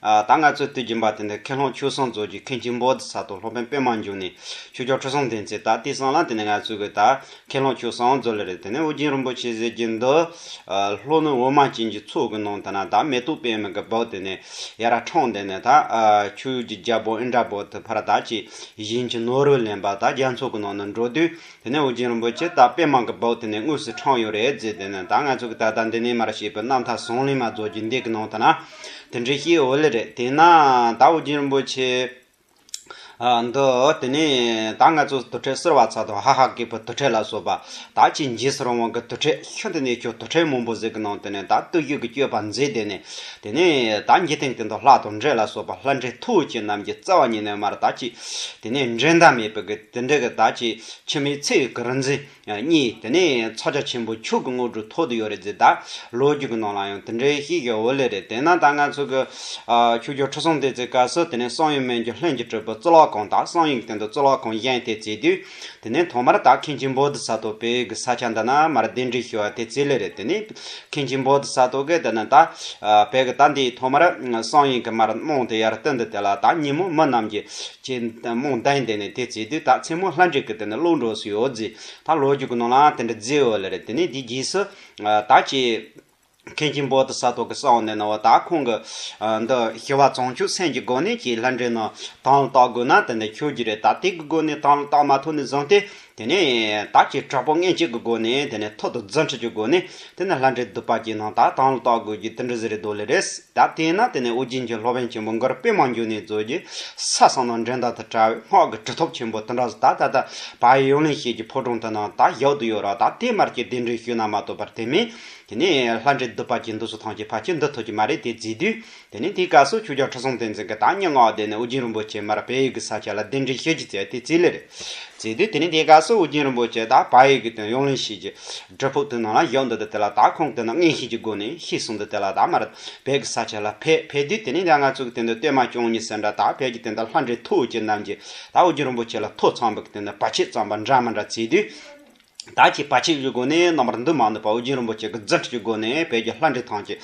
ད་ང་ཚོས་ལྟོས་ཀྱིན་པ་དེ་ནི་ཁེ་ལྷོང་ཆུ་བཟང་མཛོད་ཀྱི་མཁན་ཆེན་པོ་ཏི་ས་དོ་ལྷོ་བན་པོས་མ་འཇུག་ནས་ཆུ་སྐྱོར་ཁྲི་སྲོང་ལྡན་ཚེ་ད་ལྟའི་སྲང་ལམ་དེ་ནི་ང་ཚོའི་གི་ད་ཁེ་ལྷོང་ཆུ་བཟང་མཛོད་ལ་རེད་དེ་ནས་ཨོ་རྒྱན་རིན་པོ་ཆེ་ཟེར་གྱི་འདུག་ལྷོ་ནུབ་འོ་མ་ཅན་གྱི་ཚུགས་གི་ནང་དུ་ན་ད་མེ་ཏོག་པད་མ་གི་བོགས་དེ་ནས་ཡ་ར་འཕྲང་དེ་ནས་ད་ཆུ་ཡུར་གྱི་རྒྱལ་པོ་ཨིནྡྲ་བོ་དྷི་བྷ་ར་ད་ཅེས་གཞན་གྱི་ནོར་བུ་ལེན་པ་ད་རྒྱ་མཚོ་གི་ནང་ནས་འགྲོ་དུས་དེ་ནས་ཨོ་རྒྱན་རིན་པོ་ཆེས་ད་དཔེ་མང་གི་བོགས་དེ་ནས་དངོས་སུ་འཕྲང་ཡོད་རེད་རྫས་དེ་ནི་ད་ང་ཚོ་གི་ད་ལྟ་འདི་ནས་མར་བྱས་པའི་རྣམ་ཐར་ཟོང་ལེན་མ་རྫོགས་རྒྱུ་འདེགས་ཀི་ནང་ད་ན་དེ་འདྲའི་ཤེས་ཡོད་ལེ་རེད་དེས་ན་ད་ཨོ་རྒྱན་རིན་པོ་ཆེ་འདི་དེ་ནས་ད་ང་ཚོ་དུར་ཁྲོད་སེར་བ་ཚ་དང་ཧ་ཧ་སྐད་པོ་དུར་ཁྲོད་ལ་སོགས་པ་ད་ཆེས་རྗེས་སུ་རང་དབང་གི་དུར་ཁྲོད་ཤི་འདི་ནས་ཁྱོད་དུར་ཁྲོད་མང་པོ་ཟིག་གི་ནང་དེ་ནས་ད་བརྟུལ་ཞུགས་ཀི་སྤྱོད་པ་མཛད་དེ་ནས་དེ་ནས་ད་འཇིག་རྟེན་གི་འདི་ལྷ་དང་འདྲེ་ལ་སོགས་པ་ལྷ་འདྲེ་མཐུ་བོ་ཆེ་རྣམས་ཀྱི་རྩ་བ་ཉིད་ནས་མར་ད་ཅིས་དེ་ནས་འགྲན་ཟླ་མེད་པའི་གི། དེ་འདྲ་གི་ད་ཅི་ཕྱི་མའི་ཚེ་གི་རིན་འཛིན་གཉིས་དེ་ནས་ཚོགས་རྒྱ་ཆེན་པོ་ཕྱུག་གི་དངོས་གྲུབ་ཐོབ་ཏུ་ཡོད་རེད་ཟེར་ད་ལོ་རྒྱུས་གི་ནང་ལ་ཡང་དེ་འདྲའི་ཤིག་གི་འོད་ལེ་རེད་དེ་ན་ད་ང་ཚོ་གི་ཕྱུག་རྒྱུ་ཁྲི་སྲོང་ལྡེ་བཙན་སྐབས་སུ་དེ་ནས་སང་ཡིག་སྨན་གྱི་ལྷན་གྱི་སྤྲུལ་པ་གཙུག་ལག་ཁང་དང་སང་ཡིག་སྟེང་དུ་གཙུག་ལག་ཁང་གཞན་དེ་བརྩིགས་དུས་དེ་ནས་ཐོག་མར་ད་མཁན་ཆེན་བོ་དི་ས་ཐོ་པས་གི་ས་ཆ་འདི་ན་མར་གདན་འདྲེན་ཞུ་བ་དེ་རྩིས་ལེ་རེད་དེ་ནས་མཁན་ཆེན་བོ་དྷི་ས་ཏོ་གས་དེ་ནི་ད་བལ་གྱི་ད་འདིའི་ཐོག་མར་སང་ཡིན་གྱི་མར་རྨོངས་དེ་ཡར་སྟོན་དུ་དེ་ལ་ད་ཉིན་མོ་མི་རྣམས་ཀྱི་ཆེ་རྨོངས་དན་དེ་ནི་དེ་བརྩིས་དུས་ད་མཚན་མོ་ལྷ་འདྲེ་གི་དེ་ནི་བློ་འགྲོ་སུ་ཡོད་རྫི་ད་ལོ་རྒྱུག་གི་ནང་ལའང་དེ་འདྲ་རྫི་ཡོད་ལེ་རེད་དེ་ནི་དེའི་རྗེས་སུ་ད་ཅེས། མཁན་ཆེན་བོ་དྷི་ས་ཏོ་གས་སང་ནི་ནི་བ་ད་ཁོང་གི་འདི་ཞི་བ་བཙོང་ཆུ་སེན་གྱི་སྒོ་ནས་ཀྱི་ལྷ་འདྲེ་ནི་དང་ལ་བཏགས་དགོས་ན་དེ་འདྲ་ཆོས་ཀྱི་རེད་ད་དེ་གི་སྒོ་ནས་དང་ལ་བཏགས་མ་ཐུབ་ནི་བཟང་སྟེ། དེ་ནས་བདག་གིས་དྲག་པོ་སྔས་འཁྱིལ་གྱི་སྒོ་ནས་དེ་ནས་ཐོད་དུ་རྫ་འཁྲིལ་གྱི་སྒོ་ནས་དེ་ནས་ལྷ་འདྲེ་དུ་བ་ཀྱི་ནང་དག་དང་ལ་དྭགས་དགོན་གྱི་ཏིལ་འབྲུ་ཟེ་རེ་རྡོ་ལེ་རེས་བརྡབས་དེས་ན་དེ་ནས་ཨོ་རྒྱན་གྱི་ལྷོ་བན་ཆེན་པོ་མགར་དཔེ་མང་འགྱུར་ནས་མཛོད་ཀྱི་ས་གསང་དང་འགྲན་ཟླ་དང་བྲལ་བའི་སྔགས་ཀྱི་གྲི་ཐོབ་ཆེན་པོ་ཏིལ་འདྲ་ཟ་ད་ད་བ་ཡི་ཡོངས་ལེན་ཤེལ་གྱི་ཕོ་བྲང་དེ་ནང་དག་གཞག་ཏུ་ཡོད་ར་ད་དེ་མར་གྱི་གདན་འདྲེན་ཞུས་ན་མ་ཐོབ་པར་དེ་མིན་དེ་ནས་ལྷ་འདྲེ་དུ་བ་ཀྱི་འདུ་ཚོགས་ཐང་ཆེན་བ་ཁྱི་འདི་ཐོབ་ཀྱི་མ་རེད་དེ་བརྫིས་དུས་དེ་ནས་དེའི་སྐབས་སུ་ཆོས་རྒྱལ་ཁྲི་སྲོང་བསྟན་འཛིན་གྱི་བདག་ཉིད་མངའ་སྡེ་ནས་ཨུ་རྒྱན་རིན་པོ་ཆེ་མར་བལ་ཡུལ་གྱི་ས་ཆ་ལ་གདན་འདྲེན་ཞལ་གྱིས་བསྩལ་ཏེ་རྩིས་ལེ་རེ་བསྩལ་དུས་དེ་ནས་དེའི་སྐབས་སུ་ཨུ་རྒྱན་རིན་པོ་ཆེ་དང་བལ་ཡུལ་གྱི་དོན་ཡོངས་གླེང་བྱེད་ཀྱི་སྒྲུབ་ཕུག་ཏུ་ནང་ལ་བཞུགས་འདུག་དུས་དེ་ལ་དྭགས་ཁོངས་ཀྱི་ནང་རྔན་ཤིང་གྱི་སྒོ་ནས་ཤི་གསོན་དུས་དེ་ལ་དྭགས་མར་བལ་གྱི་ས་ཆ་ལ་ཕེབས་ཕེབས་དུས་དེ་ནས་ཡ་ང་གཙུག་གི་སྟེང་དུ་སྟོད་མ་ཅོང་ཉི་ཟེར་འདྲ་དང་བལ་གྱི་སྟེང་དུ་ལྷ་འདྲེ་ཐུགས་བསྐྱེད་རྣམས་ཀྱིས་དྭགས་ཨུ་རྒྱན་རིན་པོ་ཆེ་ལ་ཐོ་ཚངས་བུག་གི་སྟེང་དུ་བ་ཕྱེད་ཙམ་པ་འདྲ་མི་འདྲ་བརྩིས་དུས། བདག་གིས་བ་ཕྱུགས་ཀྱི་སྒོ་ནས་རྣམ་པར་འདུ་མ་ནུས་པ་ཨོ་རྒྱན་རིན་པོ་ཆེ་གི་རྫུ་འཕྲུལ་གྱི་སྒོ་ནས་བོད་ཀྱི་ལྷ་འདྲེ་ཐམས་ཅད་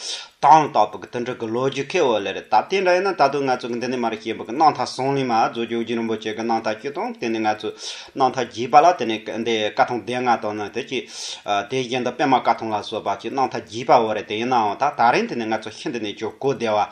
དྭངས་དྭངས་པོ་གི་དུད་འགྲོ་གི་ལོ་རྒྱུས་ཁེ་འོ་ལེ་རེད་ད་དེ་འདྲ་ཡིན་ན་ད་དུང་ང་ཚོ་གི་འདི་ནས་མ་རིག་ཤེས་འབུལ་གི་སྣང་མཐའ་ཟུང་ལས་མ་རྫོགས་རྒྱུ་ཨོ་རྒྱན་རིན་པོ་ཆེ་གི་སྣང་མཐའ་བཅུ་དང་དེ་ནས་ང་ཚོས་སྣང་མཐའ་བརྒྱད་པ་ལ་དེ་ནས་འདི་བཀའ་ཐང་སྡེ་ལྔ་དང་ནི་དེ་ཅི་དེའི་རྗེས་འདི་པདྨ་བཀའ་ཐང་ལ་སོགས་པ་ཅིག་སྣང་མཐའ་བརྒྱད་པ་འོ་རེད་དེ་ཡིན་ནའང་ད་ད་རིང་དེ་ནས་ང་ཚོ་ཤི་འདི་ནས་ཇོ་སྐུ་སྡེ་བ།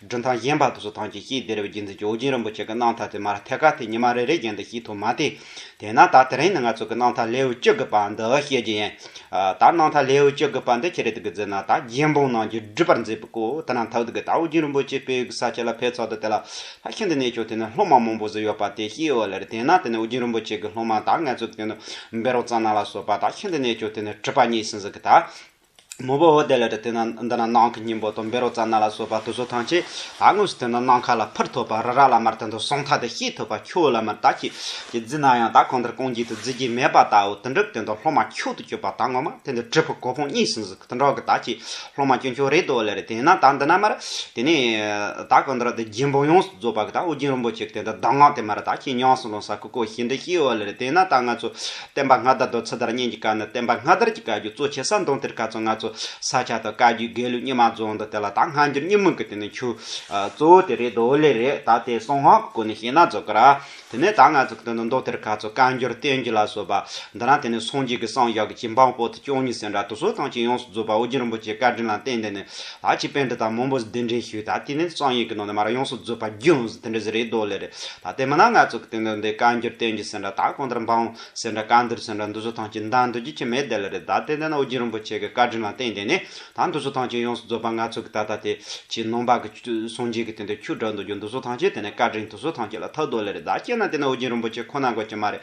སྒྲུང་ཐང་གཞན་པ་དུ་སོ་ཐང་གི་སྐྱིད་སྡེ་རི་བོའི་རྒྱུན་འཛིན་ཇོ་བོ་རྗེ་རིན་པོ་ཆེ་གི་སྣང་མཐའ་དེ་མར་ཐད་ཀར་དེ་ཉི་མ་རེ་རེའི་རྒྱན་དུ་ཤེས་ཐུབ་མ་སྟེ། དེས་ན་ད་དེ་རིང་ནི་ང་ཚོ་གི་སྣང་མཐའ་ལེའུ་བཅུ་དགུ་པ་འདི་བཤད་རྒྱུ་ཡིན། ད་སྣང་མཐའ་ལེའུ་བཅུ་དགུ་པ་འདི་ཁྱེད་རེ་ད་གི་འཛིན་ན་ད་རྒྱལ་འབངས་རྣམས་ཀྱི་སྒྲུབ་པར་མཛད་པའི་སྐོར་དེ་རྣམས་ཐག་ཏུ་གི་ད་བོ་རྗེ་རིན་པོ་ཆེ་དཔལ་གི་ས་ཆ་ལ་ཕེབས་ཚོགས་དུ་དེ་ལ་ད་ཁྱེད་འདི་གནས་མཆོག་དེ་ནི་སློབ་མ་མང་པོ་ཟིག་ཡོད་པ་དེ་ཤེས་ཨོ་ལེར་དེས་ན་དེ་ནི་བོ་རྗེ་རིན་པོ་ཆེ་གི་སློབ་མ་ད་ངལ་རྩོལ་དུ་གི་འདུག་འབེ་རོག་ཙང་ནང་ལ་སོགས་པ་ད་ཁྱེད་འདི་གནས་མཆོག་དེ་ནི་གྲུབ་པ་ཉིད་ཟིན་ཟིན་གི་ད་མོ་བོ་བོ་དེ་ལས་དེ་ན་འདི་ན་ནང་གི་སྙིང་པོ་དང་བེ་རོ་ཙ་ན་ལ་སོགས་པ་དུ་སོ་ཐང་ཆེ་ད་དངོས་སུ་དེ་ན་ནང་ཁ་ལ་ཕུར་ཐོགས་པ་རི་ར་ལ་མར་དེ་ཚོ་སོང་ཐ་དེ་ཤེས་ཐུབ་པ་ཁྱོད་ལ་མར་ད་ཁྱེད་ཀྱིས་བརྫི་ན་ཡང་ད་གང་ལྟར་རྐང་རྗེས་དུ་བརྫི་རྒྱུ་མེད་པ་དའོ་དོན་གྲུབ་དེ་ད་སློབ་མ་ཁྱོད་དུ་གྱུར་པ་ད་ངོ་མ་དེ་འདི་གྲུབ་ཕུག་གོ་ཕུང་གཉིས་སུ་འཛུགས་དོན་གྲོགས་ཀྱི་ད་ཁྱེད་སློབ་མ་སྐྱོན་ཁྱོད་རེད་དོ་ལེར་དེ་ན་ད་འདི་ན་མར་དེ་ནས་ད་གང་ལྟར་དེ་རྒྱལ་འབངས་ཡོངས་སུ་རྫོགས་པ་གི་ད་ཨོ་རྒྱན་རིན་པོ་ཆེ་གི་དེ་ད་གདམས་ངག་དེ་མར་ད་ཁྱེད་ཉམས་སུ་ལོངས་ས་ཀུ་ཀོ་ཞེས་འདི་ཤེས་འོ་ལེར་དེ་ན་ད་ང་ཚོ་བསྟན་པ་སྔ་དར་དང་ཚུ་དར་གཉིས་ཀྱི་བཀའ་ནི་བསྟན་པ་སྔ་དར་གྱི་བཀའ་བརྒྱུད་གཙོ་ཆེ་ས་མདོང་དེར་བཀའ་གཙོ་ལྔ་གཙོ་ས་ཆ་དང་བཀའ་བརྒྱུད་དགེ་ལུགས་རྙིང་མ་རྫོང་དང་དེ་ལ་ད་སྔ་འགྱུར་རྙིང་མིན་གྱི་དེ་ནི་ཆུ་གཙོ་བོ་དེ་རེད་རྡོ་ལེ་རེད་ད་དེ་སོང་ཧང་གི་སྐོར་ནས་བཤད་ན་རྫོགས་གི་ར་དེ་ནས་ད་ང་ཚོ་གི་དོན་དུ་མདོ་དེར་བཀའ་གཙོ་བཀའ་འགྱུར་བསྟན་བརྒྱུད་ལ་སོགས་པ་འདི་རང་དེ་ནས་སོང་རྗེས་ཀྱི་སངས་རྒྱས་ཀྱི་བྱིན་འབངས་པོ་དེ་བཅུ་གཉིས་སེ་འདྲ་དུ་སོ་ཐང་ཅིག་ཡོངས་སུ་རྫོགས་པ་ཨོ་རྒྱན་རིན་པོ་ཆེ་བཀའ་དྲིན་ལ་བརྟེན་དེ་ནས་ད་ཅི་པན་ཏི་དང་མོན་པོ་ཟི་དེ་འདྲེན་ཞུས་ད་དེ་ནི་གཙང་ཡིག་གི་ནང་དུ་མར་ཡོངས་སུ་རྫོད་པ་རྒྱུན་ཟི་དེ་འདྲེ་ཟི་རེད་དོ་ལེ་རེད་ད་ལྟའི་མི་ནག་ནག་ཚོགས་ཀྱི་སྟེང་དུ་འདི་བཀའ་འགྱུར་བསྟན་རྒྱུ་ཟེར་འདྲ་ད་གང་ལྟར་འབངས་ཟེར་འདྲ་བཀའ་འདུར་ཟེར་འདྲ་འདུ་བཟོ་ཐང་ཅིག་འདང་འདུ་རྒྱུ་ཅི་མེད་དེ་ལེ་རེད་ད་ལྟའི་འདི་ན་ཨོ་རྒྱན་རིན་པོ་ཆེ་གི་བཀའ་དྲིན་ལ་བརྟེན་དེ་ནི་ད་འདུ་བཟོ་ཐང་ཅིག་ཡོངས་སུ་རྫོད་པ་ནག་ཚོགས་ཀྱི་ད་ལྟ་དེ་ཕྱིའི་ནང་པ་གི་གསུང་འབྱིན་གྱི་སྟེང་དུ་ཁྱུ་དྲག་འདུ་རྒྱུ་འདུ་བཟོ་ཐང་ཅིག་དེ་ནི་བཀའ་དྲིན་དུ་བཟོ་ཐང་ཅིག་ལ་ཐག་དོ་ལེ་རེད་ད་སྐྱེས་ན་དེ་ནི་ཨོ་རྒྱན་རིན་པོ་ཆེ་ཁོ་ན་དགོས་ཀྱི་མ་རེད།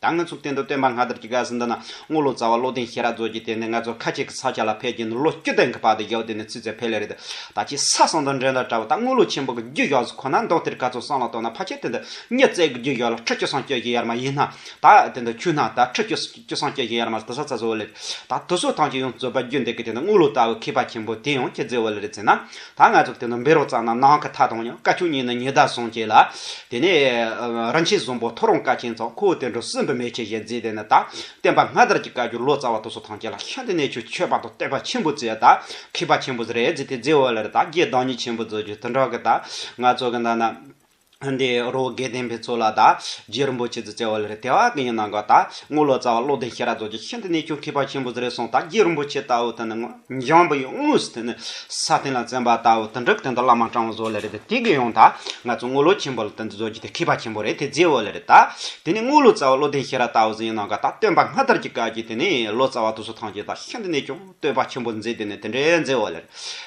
ད་ང་ཚོ་གཏན་དུ་སྟོན་པ་སྔ་དར་གྱི་སྒར་ཟིན་འདི་ན་དངུལ་ལོ་ཙཱ་བ་བློ་ལྡན་ཤེས་རབ་མཛོད་ཀྱིས་དེ་ནས་ང་ཚོ་ཁ་ཅིག་གི་ཚ་ཆ་ལ་ཕེབས་ཀྱིན་འདུག་ལོ་བཅུ་སྟེང་གི་བར་དུ་ཡོད་དེ་ནས་ཚུད་ཚད་ཕལ་ལེ་རེད་འདུག་ད་ཁྱི་ས་གསང་དང་འགྲན་ཟླ་འདྲ་བོ་ད་དངུལ་ལོ་ཆེན་པོ་གི་རྒྱུ་ཞོགས་སུ་ཁོ་ན་འདུག་དེར་ག་ཚོད་སང་ལ་བཏོན་ན་ཕ་ཁྱི་དེ་འདི་མྱི་བཙལ་གི་རྒྱུ་ཞོགས་ལ་ཁྲི་བཅུ་སང་སྐྱོད་ཀྱི་ཡར་མ་ཡིན་ན་ད་དེ་འདི་ཁྱུ་ན་ད་ཁྲི་བཅུ་བཅུ་སང་སྐྱོད་ཀྱི་ཡར་མ་ལ་དེ་ས་ཚ་བཟོ་བ་ལེ་རེད་ད་དུ་སོ་ཐང་གྱི་ཡོང་བཙོད་པ་རྒྱུ་འདེགས་གི་དེ་འདི་དངུལ་ལོ་ཙཱ་བའི་མཁས་པ་ཆེན་པོ་དེ་ཡང་ཁྱི་བཙལ་བ་ལེ་རེད་ཟེར་ན་ད་ང་ཚོར་དེ་འདྲ་འབེལ་རོགས་ཙང་ན་ནང་གི་ཐ་དང་ཡང་བཀའ་ཁྱོད་གཉིས་ནི་ཉི་ཟླ་བཟང་སྐྱེས་ལ། དེ་ནས་རིན་ཆེན་བཟང་པོ་ཐོ་རངས་བཀའ་ཆེན་ཙང་ཁོ་དེ་འདྲ་སྲིན་བུ་མེ་ཁྱི་བཞིན་བརྫིས་དེ་ནི་ད་བསྟན་པ་སྔ་དར་གྱི་བཀའ་འགྱུར་ལོ་ཙཱ་བ་དོ་སོ་ཐང་ཅན་ལ་ཤི་འདི་ནས་ཁྱོད་ཆོས་པ་དང་བསྟན་པ་ཆེན་པོ་བརྩི་ད་མཁས་པ་ཆེན་པོ་རེད་བརྫི་དེ་རྫི་འོ་ལེར་ད་རྒྱའི་བདག་ཉིད་ཆེན་པོ་བརྫི་རྒྱུ་དེ་འདྲ་གི་ད་ང་ཚོ་གི་ད་ན། དེ་རོ་བརྒྱའི་བསྟན་པའི་ཚོགས་ལ་བདག་རྗེ་རིན་པོ་ཆེ་ཚུལ་བཅས་བ་ལས་དེ་བ་དགེ་བསྙེན་གནང་ག་དག་དངུལ་ལོ་ཙཱ་བ་བློ་ལྡན་ཤེས་རབ་རྫོགས་ཀྱི་ཤིན་ཏུ་གནས་ཆུང་མཁས་པ་ཆེན་པོ་ཟེར་བས་སོང་དག་རྗེ་རིན་པོ་ཆེ་ལྟ་བུ་དེ་ནི་འཇམ་པོ་ཡི་དངོས་སུ་དེ་ནི་ས་སྟེང་ལ་རྩེན་པ་ལྟ་བུ་དོན་གྲུབ་དེ་འདི་བླ་མ་སྤྲང་བོ་ཟོ་ལེ་རེད་དེ་དེ་གི་ཡོང་དག་ང་ཚོ་དངུལ་ལོ་ཆེན་པོ་ལ་དེ་འདི་རྫོགས་རྒྱུ་དེ་མཁས་པ་ཆེན་པོ་རེད་དེ་རྫས་བོ་ལེ་རེད་དག་དེ་ནི་དངུལ་ལོ་ཙཱ་བ་བློ་ལྡན་ཤེས་རབ་ལྟ་བུ་ཟེར་ཡིན་གནང་ག་དག་སྟོན་པ་སྔ་དར་གྱི་བཀའ་རྒྱུད་དེ་ནི་ལོ་ཙཱ་བ་དུ་སོ་ཐང་ཆེན་དག་ཤིན་ཏུ་གནས་ཆུང། བསྟོད་པ་ཆེན་པོ་མཛད་དེ་ནི་དེ་འདྲའི་མཛད་འོ་ལེར།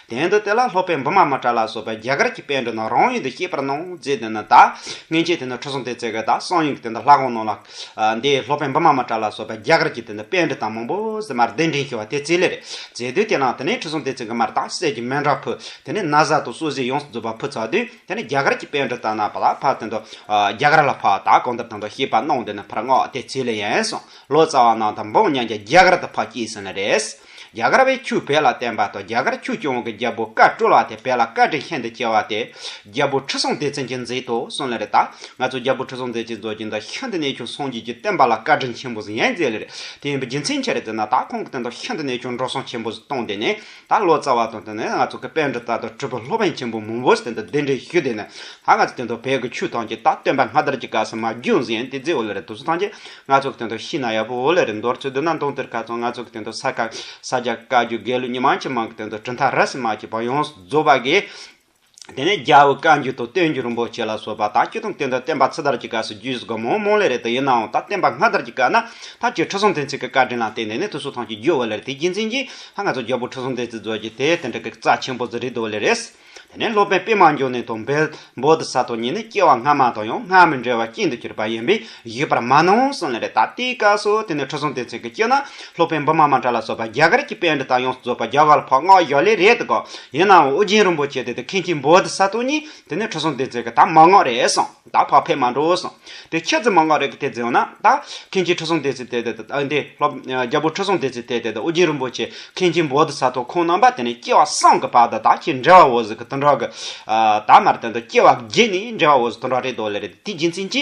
དེང་དུ་དེ་ལ་སློབ་པའི་འབུ་མ་མ་ཏྲ་ལ་སོགས་པའི་རྒྱ་གར་གྱི་དཔལ་འགྲོ་རྣམས་རང་ཡུལ་དུ་སྐྱེས་པར་གནང་མཛད་དེ་ནི་བདག། སྔན་ཆད་དེ་ནི་ཁྲོ་སྲུང་སྟེ་བརྩེ་བས་བདག་སང་ཡོང་གི་དེ་འདྲ་ལྷག་དགོངས་གནང་ལགས། འདིའི་སློབ་དཔོན་འབུ་མ་མ་ཏྲ་ལ་སོགས་པའི་རྒྱ་གར་གྱི་དེ་ནི་དཔལ་འབྲི་སྟངས་མང་པོ་ཟེར་མར་གདན་འདྲེན་ཞུ་བ་དེ་རྩིས་ལེར་མཛད་དུས་དེ་ནང་དུ་ནི་ཁྲོ་སྲུང་སྟེ་བརྩེ་གི་མར་དང་གསེར་གྱི་མན་ཏྲ་ཕུལ། དེ་ནི་ན་བཟའ་དང་སོ་བཟི་ཡོངས་སུ་རྫོགས་པ་ཕུལ་ཚར་དུས་དེ་ནི་རྒྱ་གར་གྱི་དཔལ་འབྲི་སྟངས་ན་བ་ལ་ཕ་དེ་འདྲ། རྒྱ་གར་ལ་ཕ་བདག་གང་ལྟར་དང་དུ་ཤེས་པར་གནང་དེ་ནི་ཕར་སྔགས་དེ་རྩིས་ལེ་ཡན་སོང། ལོ་ཙཱ་བ་ནང་དང་འབངས་མཉམ་རྒྱ་རྒྱ་གར་དུ་ཕ་སྐྱིད་སོང་ནས་རེད། རྒྱ་གར་བས་ཁྱུ་བེད་ལ་བརྟེན་པ་དང་རྒྱ་གར་ཁྱུ་སྐྱོང་བ་གི་རྒྱལ་པོ་བཀའ་བཀྲོལ་བ་དེ་བེད་ལ་བཀའ་དྲིན་ཤིན་ཏུ་ཆེ་བ་དེ། རྒྱལ་པོ་ཁྲི་སྲོང་ལྡེ་བཙན་གྱིས་མཛད་དུ་སོང་ལེ་རེད་ད། ང་ཚོ་རྒྱལ་པོ་ཁྲི་སྲོང་ལྡེ་བཙན་རྫོགས་ཆེན་དང་ཤིན་ཏུ་གནས་ཆུང་སངས་རྒྱས་ཀྱི་བསྟན་པ་ལ་བཀའ་དྲིན་ཆེན་པོ་ཟིན་ཡན་མཛད་ལེ་རེད་དེ་ཡིན་པའི་རྒྱུ་མཚན་ཆེ་རེད་ཟེར་ན་ད་ཁོང་གི་བསྟན་དང་ཤིན་ཏུ་གནས་ཆུང་འགྲོ་སོང་ཆེན་པོ་བཟོ་གཏོང་དེ་ནི་ད་ལོ་རྩ་བ་དང་བསྟུན་ནས་ང་ཚོ་གི་དཔལ་འབྲི་དར་དང་སྤྲུལ་པ་ལྷོ་བན་ཆེན་པོ་མོན་བོས་དེ་འདྲ་གདན་འདྲེན་ཞུས་དེ་ནས་ད་ང་ཚོ་དེ་འདྲ་བལ་གི་ཆོས་ཐང་གི་ད་སྟོན་པ་སྔ་དར་གྱི་སྐབས་སུ་མ་རྒྱུན་ཟིན་དེ་རྗེས་འོ་ལེ་རེ་དུ་སུ་ཐང་གིས་ང་ཚོ་གི་དེ་འདྲ་ཤི་ན་ཡག་པོ་འོ་ལེ་རེ་འདོར་ཚུལ་བསྡུ་ན་མདོང་དེར་ཁ་ཚང་ང་ཚོ་གི་དེ་འདྲ་ས་སྐ་ས་རྒྱ་བཀའ་བརྒྱུད་དགེ་ལུགས་མྱི་མང་ཆེ་མང་གི་དེ་འདྲ་གྲུ་མཐའ་ར་སི་མ་གྱི་བང་ཡོངས་སུ་རྫོགས་པ་གིས། དེ་ནས་རྒྱལ་བུ་བཀའ་འགྱུར་དང་བསྟན་འགྱུར་རིན་པོ་ཆེ་ལ་སོགས་པ་དག་སྐྱིད་དང་བསྟན་དང་བསྟན་པ་ཚེ་དར་གྱི་སྐབས་སུ་རྒྱུད་སྒོ་མང་མང་ལས་རེ་ད་ཡིན་ནའང་ད་བསྟན་པ་སྔ་དར་གྱི་སྐབས་ན་ཐབས་ཀྱི་ཁྲི་སྲོང་ལྡེ་མཚན་གྱི་བཀའ་དྲིན་ལ་བརྟེན་ནས་ནི་ཐུགས་གསོ་ཐང་ཆེན་རྒྱུད་དབུ་ལེར་དེ་རྒྱུད་འཛིན་གྱིས་ལྷ་ལྔ་ཚོགས་རྒྱལ་པོ་ཁྲི་སྲོང་ལྡེ་མཚན་གཙོས་ཀྱི་དེ་དེ་འདྲ་གི་རྩ་ཆེན་པོ་ཛི་རི་དུ་བ་ལེ་རེས། དེ་ནས་སློབ་དཔོན་པདྨ་འབྱུང་གནས་དང་འབོད། བོ་དི་སཱ་ཏོ་གཉིས་ནི་སྐྱེ་བ་སྔ་མ་དང་ཡང་སྔར་མི་འབྲལ་བར་སྐྱིད་དུ་གྱུར་པ་ཡིན་པས་ཡོད་པར་མ་གནང་གསུངས་ལན་རེ་ད་ལྟའི་སྐབས་སུ་དེ་ནི་ཁྲི་སྲོང་ལྡེ་བཙན་གྱི་སྐྱེས་ན་ལྷོ་པའི་འབུམ་མ་མ་གྲ་ལ་སོགས་པ་རྒྱ་གར་གྱི་དཔེ་འབྲི་སྟངས་ཡོངས་སུ་རྫོགས་པ་རྒྱ་གར་ལ་ཕག་སྔགས་ཡོད་ལེ་རེད་དགོ། ཡིན་ནའང་ཨོ་རྒྱན་རིན་པོ་ཆེ་དེ་དེ་མཁན་ཆེན་བོ་དྷི་ས་ཏོ་ཉིད་དེ་ནི་ཁྲི་སྲོང་ལྡེ་བཙན་གྱི་དམ་མ་སྔགས་རེད་གསུངས་ད་ཕག་ཕེབས་མ་འགྲོ་གསུངས་དེ་ཁྱེད་ཚོས་མ་སྔགས་རེད་གི་དེ་འཛིན་འོང་ན་ད་མཁན་ཆེན་ཁྲི་སྲོང་ལྡེ་བཙན་དེ་དེ་དང་ཨ་འདི་ལྷོ་རྒྱལ་པོ་ཁྲི་སྲོང་ལྡེ་བཙན་དེ་དེ་དང་ཨོ་རྒྱན་རིན་པོ་ཆེ་མཁན་ཆེན་བོ་དྷི་ས་ཏོ་ཁོང་རྣམ་པ་དེ་ནི་སྐྱེ་བ་སངས་གི་བར་དུ་ད་ཁྱེད་འདྲ་བ་འོ་ཟི་གི་དུད་འགྲོ་གི་ད་མར་དེ་འདུག་སྐྱེ་བ་རྒས་ནས་འདྲ་བ་འོ་ཟི་དུད་འགྲོ་རེད་དོ་ལེ་རེད་དེ་རྒྱུ་མཚན་ཅི།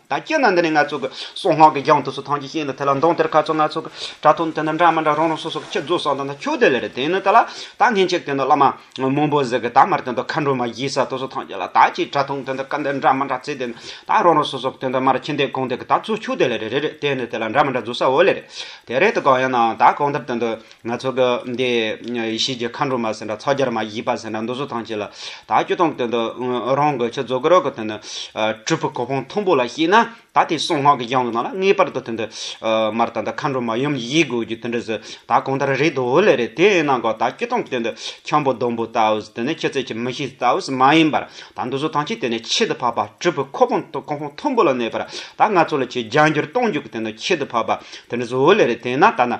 ད་སྐྱེ་ན་འདི་ནི་ང་ཚོ་གི། སོག་སྔགས་ཀྱི་རྒྱང་དུ་སོ་ཐང་གྱི་ཤིང་ལ་དེ་ལ་མདོངས་དེར་ཁ་ཚོ་ང་ཚོ་གི། དྲ་ཐུང་དེ་འདྲ་འདྲ་མི་འདྲ་རང་རང་སོ་སོ་གི་ཁྱེད་རྫོགས་སངས་དང་ད་ཁྱོད་དེ་ལས་རེད་དེ་ནི་དེ་ལ། ད་ངྷི་མཆེད་དེ་འདྲ་བླ་མ། མོན་པོ་ཟེར་གི་ད་མར་དེ་འདྲ་མཁའ་འགྲོ་མ་བཞིའི་ས་དོ་སོ་ཐང་གྱི་ལ་ད་ཅིག་དྲ་ཐུང་དེ་འདྲ་སྐ་འདེར་འདྲ་མི་འདྲ་རྩེ་དེ་ནི། ད་རང་རང་སོ་སོ་གི་དེ་འདྲ་མར་ཁྱི་འདེད་གོང་འདེད་གི་ད་ཚོ་ཁྱོད་དེ་ལས་རེད་རེད་དེ་ནི་དེ་ལ་འདྲ་མི་འདྲ་རྫོགས་ས་འོ་ལེ་རེད། དེ་རེད་དེ་གང་ཡིན་ནའང་ད་གང་འདེར་དེ་འདྲ། ང་ཚོ་གི་འདི་ཡེ་ཤེས་ཀྱི་མཁའ་འགྲོ་མ་ཟེར་འདྲ་ཚ་རྒྱར་མ་བཞི་པ་ཟེར་འདྲ་འདུ་ཟོ་ཐང་ཆེ་ལ། ད་ཁྱོད་དང་དེ་འདི་རང་གི་ཁྱོད་རྫོགས་ཀྱི་རོགས་ཀྱི་དེ་འདི་གྲུབ་པའི་གོ་འཕང་མཐོན་པོ་ལ་བཤད་ན་ད་དེ་གསང་སྔགས་ཀྱི་སྦྱང་གི་ནང་ལ་ངེས་པར་དུ་དེ་འདི་མར་ད་འདི་མཁའ་འགྲོ་མ་ཡུམ་བཞི་དགོས་རྒྱུ་དེ་འདྲ་ཟེར་ད་གང་ལྟར་རེད་འདུག་འོ་ལེ་རེད་དེ་ཡིན་ན་འགའ་ད་ཁྱོད་དང་དེ་འདི་འཁྱམས་པོ་ལྡོམ་པོ་ལྟ་བུ་དེ་འདི་ཁྱེད་ཚོས་ཀྱི་མི་ཤེས་ལྟ་བུ་མ་ཡིན་པར་ད་འདུ་ཟོ་ཐང་ཆེ་དེ་ནས་ཁྱད་དུ་འཕགས་པ་གྲུབ་པའི་གོ་འཕང་གོ་འཕང་མཐོན་པོ་ལ་གནས་པར་ད་ང་ཚོ་ལ་ཆེས་སྦྱང་རྒྱུར་གཏོང་རྒྱུ་གི་དེ་འདི་ཁྱད་དུ་འཕགས་པ་དེ་འདྲ་ཟོ་འོ་ལེ་རེད་དེ་ཡིན་ན་ད་ན་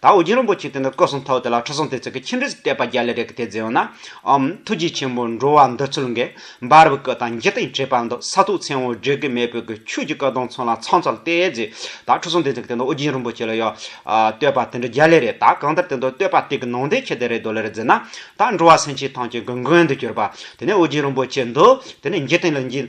ད་ཨོ་རྒྱན་རིན་པོ་ཆེས་དེ་འདྲ་བཀོད་སོང་ཐོག་དེ་ལ་ཁྲི་སྲོང་ལྡེ་བཙན་གྱི་ཁྱིམ་རིས་ཀྱི་གཏད་པ་བརྒྱ་ལས་རེ་གི་དེ་རྫས་ཡོང་ན་འམ་ཐུགས་རྗེ་ཆེན་པོ་འགྲོ་བ་འདི་ཚུལ་འགལ་འབར་བའི་སྐུ་དང་འཇིག་རྟེན་བྲལ་བར་འདུག་ས་ཐུགས་མཚན་འོག་འབྲས་ཀྱི་མེས་བོད་ཀྱི་ཆོས་ཀྱི་སྐུ་གདུང་ཚང་ལ་ཚང་ཚོལ་ཏེ་རྫས་ད་ཁྲི་སྲོང་ལྡེ་བཙན་གྱི་དེ་འདྲ་ཨོ་རྒྱན་རིན་པོ་ཆེ་ལ་ཡོད་བསྟོད་པ་དེ་འདྲ་བརྒྱ་ལས་རེ་ད་གང་ལྟར་དེ་འདྲ་བསྟོད་པ་དེ་གི་ནང་དོན་ཁྱད་དེ་རེ་རྡོ་ལེ་རེ་མཛད་ན་ད་འགྲོ་བ་སེམས་ཅན་ཐམས་ཅད་གི་མགོན་དུ་གྱུར་པ་དེ་ནས་ཨོ་རྒྱན་རིན་པོ་ཆེ་འདུག་དེ་ནས་འཇིག་རྟེན་ལ་འཇིག།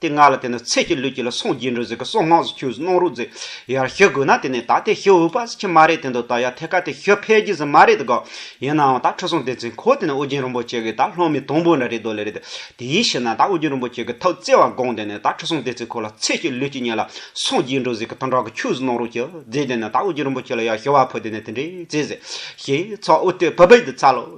དེ་སྔ་ལ་དེ་ནི་ཚེ་སྐྱིད་ལུས་སྐྱིད་ལ་སོང་རྗེས་འགྲོ་ཟིག་གི་སོང་སྔགས་སུ་ཁྱོད་སྣང་རུག་ཟིག་ཡར་ཤི་དགོས་ན་དེ་ནས་ད་དེ་ཤི་འོས་པ་ཟིག་ཁྱི་མ་རེད་དེ་འདུག་ད་ཡར་ཐད་ཀ་དེ་ཤི་ཕལ་གྱི་ཟིག་མ་རེད་དགའ་ཡིན་ནའང་ད་ཁྲི་སྲོང་ལྡེ་བཙན་ཁོ་དེ་ནས་ཨོ་རྒྱན་རིན་པོ་ཆེ་གི་ད་ལྷོ་མི་དང་པོ་འདྲ་རེད་དོ་ལེ་རེད་དེ་ཡིན་ཞེ་ན་ད་ཨོ་རྒྱན་རིན་པོ་ཆེ་གི་ཐབས་བརྩེ་བ་དགོངས་དེ་ནས་ད་ཁྲི་སྲོང་ལྡེ་བཙན་ཁོ་ལ་ཚེ་སྐྱིད་ལུས་སྐྱིད་ཉལ་ལ་སོང་རྗེས་འགྲོ་ཟིག་གི་དང་དྲག་གི་ཁྱོད་སྣང་རུག་ཅིག་ཟིག་དེ་ནས་ད་ཨོ་རྒྱན་རིན་པོ་ཆེ་ལ་ཡར་ཤི་བ་ཕོད་དེ་ནས་དེ་འདྲའི་ཚེ་ཟིག་ཤི་ཚོགས་ཨུ་ཏུ་བྷི་བྷི་དེ་ཚ་ལོ།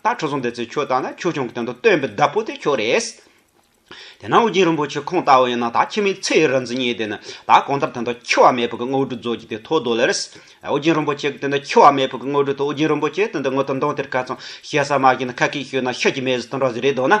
ད་ཁྲོ་ཟུང་དེ་ཚོས་ཁྱོད་བཏགས་ན་ཁྱོད་ཆུང་གི་དོན་དུ་སྟོན་པའི་བདག་པོ་དེ་ཁྱོད་རེད། དེ་ན་ཨོ་རྒྱན་རིན་པོ་ཆེ་ཁོང་ལྟ་བུ་ཡིན་ན་ད་ཁྱིམ་མིའི་ཚེའི་རིག་འཛིན་གཉིས་དེ་ནི་ད་གང་ལྟར་དེ་འདྲ་འཁྱིལ་བ་མེད་ཕུག་གི་དངོས་གྲུབ་རྫོགས་རྒྱུ་དེ་ཐོག་རྡོ་ལེ་རེད། ཨོ་རྒྱན་རིན་པོ་ཆེ་གི་དེ་འདྲ་འཁྱིལ་བ་མེད་ཕུག་གི་དངོས་གྲུབ་དེ་ཨོ་རྒྱན་རིན་པོ་ཆེ་དེ་འདྲ་ངོ་ཏི་མདོང་དེར་ག་ཚང་ཤེས་སར་མ་ཤེས་ན་ཁ་སྐད་ཤོད་ན་ཤ་ཀྱི་མེ་བཟི་དང་འདྲ་བཟི་རེད་འདོད་ན།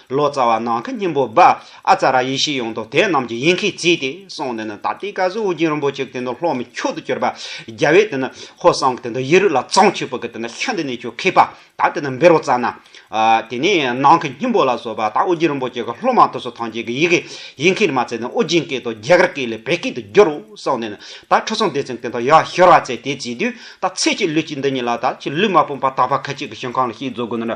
ལོ་ཙཱ་བ་ནང་གི་སྙིང་པོ་སྦ་ཨ་ཙཱ་ར་ཡེ་ཤེས་ཡོངས་རྫོགས་དེ་རྣམས་ཀྱི་ཡིན་མཁན་གཅིག་དེ་སོང་ནས་ནི་ད་ལྟའི་བཀའ་ཟུར་ཨོ་རྒྱན་རིན་པོ་ཆེ་གི་དེ་ནི་ལྷོ་མི་ཁྱུག་ཏུ་གྱུར་པ་རྒྱལ་བའི་དེ་ནི་ཧོར་སངས་ཀྱི་དེ་ནི་ཡེ་རུ་ལ་ཙང་ཆོས་ཕུག་གི་དེ་ནི་ཤ་འདི་ནས་ཁྱོད་ཁེགས་པ་ད་དེ་ནི་འབེར་བ་ཙ་ན་དེ་ནས་ནང་གི་སྙིང་པོ་ལ་སོགས་པ་ད་ཨོ་རྒྱན་རིན་པོ་ཆེ་གི་ལྷོ་མ་ཐུགས་སུ་ཐང་ཅན་གི་ཡི་གེ་ཡིན་མཁན་མ་ཚད་ནི་ཨོ་རྒྱན་སྐད་དུ་རྒྱ་གར་སྐད་ལས་བལ་སྐད་དུ་བསྒྱུར་རོ་གསུངས་ནས་ནི་ད་ཁྲི་སྲོང་ལྡེ་བཙན་གི་དེ་ཡག་ཤོར་བ་ཚད་དེ་བྱས་དུས་ད་ཚེ་གཅིག་ལུས་གཅིག་འདི་ཉིད་ལ་ད་ཁྱེད་ལུས་མ་སྤུངས་པ་དག་པ་ཁ་ཅིག་གི་ཞིང་ཁང་ལ་ཤིག་འཛུལ་དགོས་ན་ནི་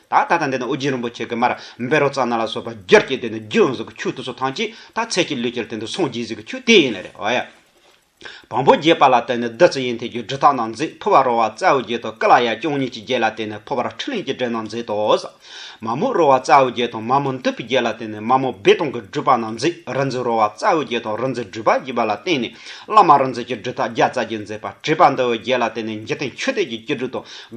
ད་ལྟ་དང་འདི་ན་ཨོ་རྒྱན་རིན་པོ་ཆེ་གི་མར་འབེ་རོ་རྩ་སྣ་ལ་སོགས་པ་བསྒྱུར་གྱི་དེ་ནི་རྒྱུ་ཡང་ཟིག་གི་ཆུ་དུ་སོ་ཐང་གཅིག་ད་ཚད་ཀྱི་ལུས་ཀྱིར་དེ་འདི་སོང་རྒྱུའི་ཟིག་གི་ཆུ་དེ་ཡིན་ལེ་རེད་བ་ཡ། བོང་བུ་རྒྱས་པ་ལ་དེ་ནི་བདུད་རྩི་ཡིན་དེ་རྒྱུ་འབྲུ་དག་ནང་འཛེག་ཕུ་བ་རོ་བ་རྩའུ་བརྒྱད་དང་ཀི་ལ་ཡ་ཅུང་གཉིས་ཀྱི་རྒྱས་ལ་དེ་ནི་ཕོ་བར་ཁྲི་ལིང་གི་འབྲས་ནང་འཛེག་དོ། མ་མོ་རོ་བ་རྩའུ་བརྒྱད་དང་མ་མོ་མདུད་པའི་རྒྱས་ལ་དེ་ནི་མ་མོ་བེ་སྟོང་གི་སྦྲུལ་པ་ནང་འཛེག་རི་འཛི་རོ་བ་རྩའུ་བརྒྱད་དང་རི་འཛི་སྦྲུལ་པ་བརྒྱུས་པ་ལ་བརྟེན་ནས་བླ་མ་རི་འཛི་ཀྱི་སྦྲུལ་ཐག་བརྒྱ་རྩ་བརྒྱད་འཛེག་པ་དྲེས་པ་འདི་བའི་རྒྱས་ལ་དེ་ནི་འཇིག་རྟེན་ཆུ་གཏེར་གྱི་སྐྱེ་སྦྲུལ་དང།